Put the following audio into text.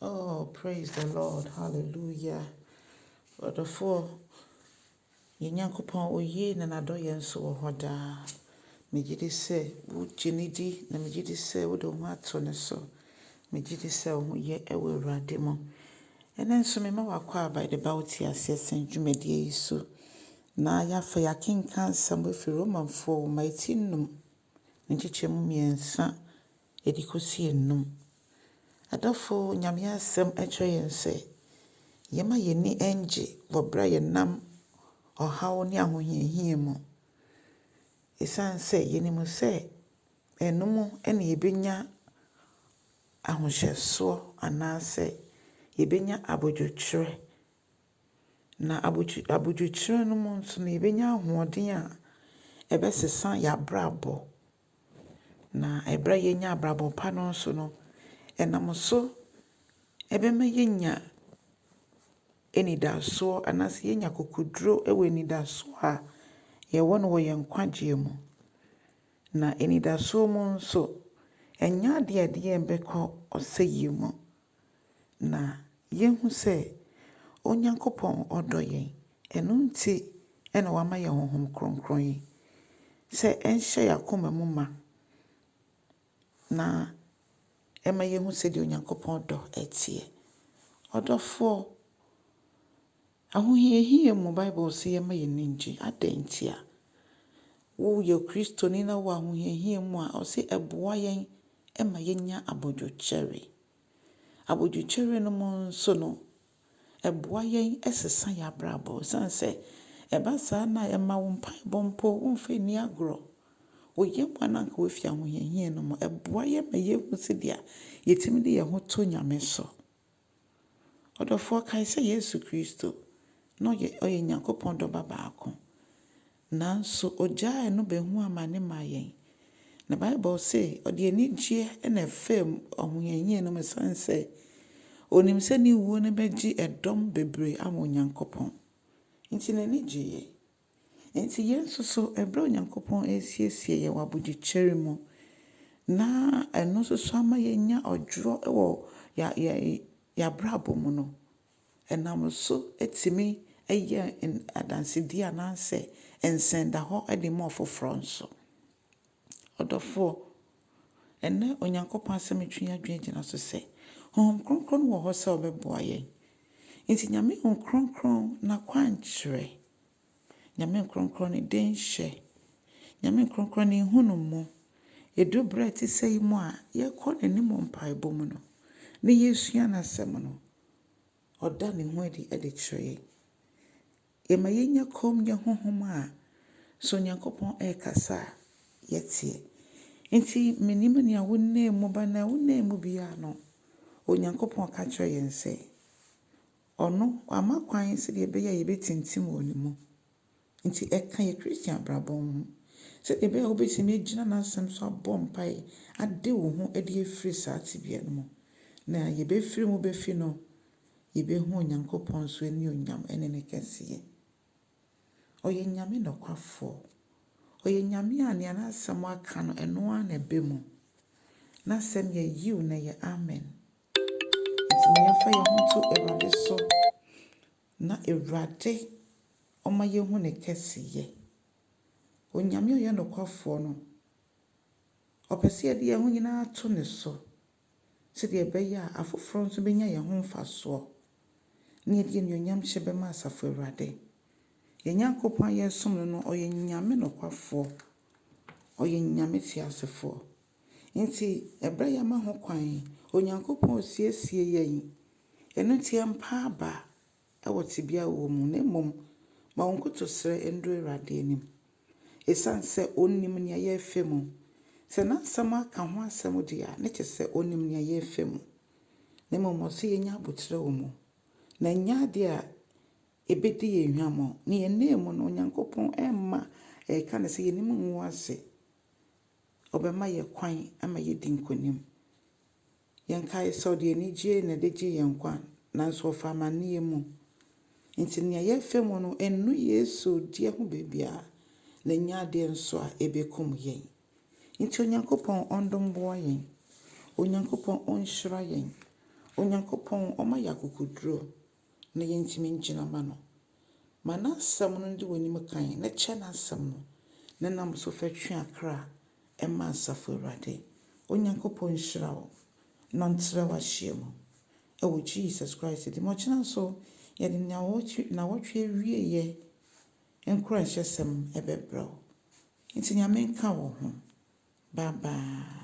Oh praise the Lord hallelujah ɔdɔfoɔ yɛn Nyankopɔn oye na n'adɔ yɛn nso wɔ hɔ daa megye di sɛ wogye ne di na megye di sɛ wode wo ho ato ne so megye di sɛ wo ho yɛ ɛwɔ Awurade mu ɛnɛ nso mema wakɔ a by the ba wote aseɛ sɛn dwumadie yi so na yɛafa yɛakenka nsɛm afiri Romanfoɔ woma ɛti nnum nkyekyɛmu mmiɛnsa Yɛde kɔsi anum. Adɔfo, Nyame Asɛm kyerɛ yɛn sɛ yɛma yɛn ani ngye wɔ berɛ a yɛnam ɔhaw ne ahohiahia mu. Ɛsiane sɛ yɛnim sɛ ɛno mu na yɛbɛnya ahohyɛsoɔ anaasɛ yɛbɛnya abodwokyerɛ, na abodwokyerɛ no mu nso no yɛbɛnya ahoɔden a ɛbɛsesa yɛn abrabɔ. Na ɛberɛ a yɛnya abrabɔ pa no nso no, ɛnam so ɛbɛma yɛanya anidasoɔ anaasɛ yɛanya akokoɔduro wɔ anidasoɔ a yɛwɔ no wɔ yɛn nkwagyeɛ mu. Na anidasoɔ mu nso, ɛnyɛ adeɛ a ɛde yɛn bɛkɔ ɔsɛeɛ mu. na yɛhu sɛ Onyankopɔn ɔdɔ yɛn. Ɛno nti na wama yɛn Honhom Kronkron yi sɛ ɛnhyɛ yɛn akoma mu ma na ɛma yɛhu sɛdeɛ Onyankopɔn dɔ teɛ. Ɔdɔfoɔ. Ahohiahia mu, Bible se yɛmma yɛn ani nnye. Adɛn ntia? Woyɛ Kristoni na wowɔ ahohiahia mu a, ɔse ɛboa yɛn ma yɛnya abodwokyɛre. Abodwokyɛre no mu nso no, ɛboa yɛn sesa yɛn abrabɔ. Ɛsiane sɛ ɛba saa no a, ɛma wo mpaebɔ mpo womfa nni agorɔ. Wo yam a na anka woafi ahohiahia no mu, ɛboa yɛn ma yɛhu sɛdeɛ yɛtumi de yɛn ho to Nyame so. Ɔdɔfoɔ, kae sɛ Yesu Kristo, na ɔyɛ, ɔyɛ Nyankopɔn Dɔ Ba baako. Nanso ɔgyaa ɛno bɛhuu amane maa yɛn. Na Bible se, ɔde anigyeɛ na ɛfaa mu ahohiahia no mu ɛsiane sɛ ɔnim sɛ ne wuo no bɛgye ɛdɔm bebree ama Onyankopɔn. Nti n'ani gyeeɛ. Enti yɛn nso so, bere a Onyankopɔn resiesie yɛn wɔ abodwokyɛre mu, na ɛno nso so ama yɛanya ɔdwoɔ wɔ yɛn yɛn abrabɔ mu no, ɛnam so tumi yɛ adansedie anaasɛ nsɛndahɔ de ma afoforɔ nso. Ɔdɔfoɔ, ɛnnɛ Onyankopɔn Asɛm retwe yɛn adwene gyina so sɛ, Honhom Kronkron no wɔ hɔ sɛ ɔbɛboa yɛn. Nti Nyame Honhom Kronkron n'akwankyerɛ, Nyame Honhom Kronkron ne denhyɛ, Nyame Honhom Kronkron ne nhunumu, ɛduru berɛ te sɛ yi mu a yɛkɔ n'anim wɔ mpaebɔ mu no, na yɛresua n'Asɛm no, ɔda ne ho adi de kyerɛ yɛn. Yɛma yɛnya kommyɛ honhom a, sɛ Onyankopɔn rekasa a, yɛteɛ. Enti mennim nea wonam mu ba no, nea wonam mu biara no, Onyankopɔn ka kyerɛ yɛn sɛ, Ɔno, wama kwan sɛdeɛ ɛbɛyɛ a yɛbɛtintim wɔ Ne mu. Enti ɛka yɛn Kristian abrabɔ ho, sɛdeɛ ɛbɛyɛ a wobɛtumi agyina N'Asɛm so abɔ mpaeɛ ade wo ho adi afiri saa tebea no mu, na yɛbɛfiri mu bɛfi no Yebehu Onyankopɔn so anuonyam ne ne kɛseyɛ. Ɔyɛ Nyame nokwafoɔ. Ɔyɛ Nyame a nea n'asɛm aka no, ɛno ara na ɛba mu. N'asɛm yɛ Yiw na ɛyɛ Amen. Enti ma yɛmfa yɛn ho nto Awurade so na Awurade ɔma yɛhu ne kɛseyɛ. Onyame a ɔyɛ nokwafoɔ no, ɔpɛ sɛ yɛde yɛn ho nyinaa to ne so. sɛdeɛ ɛbɛyɛ a afoforɔ nso bɛnya yɛn ho mfasoɔ, na yɛde animuonyamhyɛ bɛma Asafo Awurade. Yɛn Nyankopɔn a yɛresom no no, ɔyɛ Nyame nokwafoɔ, ɔyɛ Nyame teasefoɔ. Nti ɛberɛ a yɛama ho kwan, Onyankopɔn resiesie yɛn, ɛno nti yɛmpa aba, wɔ tsebea a wɔwɔ mu na mbom ma wo nkotosrɛ ndɔ Ewuradze enyim. Esian sɛ Onyim nyia yɛrefa mu, sɛ N'asɛm akã ho asɛm dze a, ne kyɛ sɛ Onyim nyia yɛrefa mu. Na mbom Ɔsɛ yenya aboterɛ wɔ mu, na nnyɛ adze a ebedzi yɛn hwamɔ. Na yɛn nan mu no, Onyankopɔn mma yɛreka no sɛ yɛn enyim ngu ase. Ɔbɛma yɛn kwan ma yɛadi nkonyim. Yɛnkae sɛ ɔde anigye na ɛde gyee yɛn nkwa, nanso ɔfaa amanneɛ mu. Enti nea yɛrefa mu no nnɔ Yesu deɛ ho baabiara, na ɛnyɛ adeɛ nso a ɛbɛkum yɛn. Enti Onyankopɔn ɔndom boa yɛn. Onyankopɔn ɔnhyira yɛn. Onyankopɔn ɔma yɛn akokoduro. na yentumi ngyina mma no. Ma n'Asɛm no ndi w'enyim kan na kyɛ n'Asɛm no na nam so fa twe akra ma Asafo Ewuradze. Onyankopɔn nhyira wo na ɔntsera w'ahyia mu wɔ Jesus Christ dzin mu. Ɔkyena so yɛdze nyaawɔtwe naawɔtwe ewieyɛ nkoranhyɛsɛm bɛbrɛ wo. Ntsi Nyame nka wo ho. Bye bye.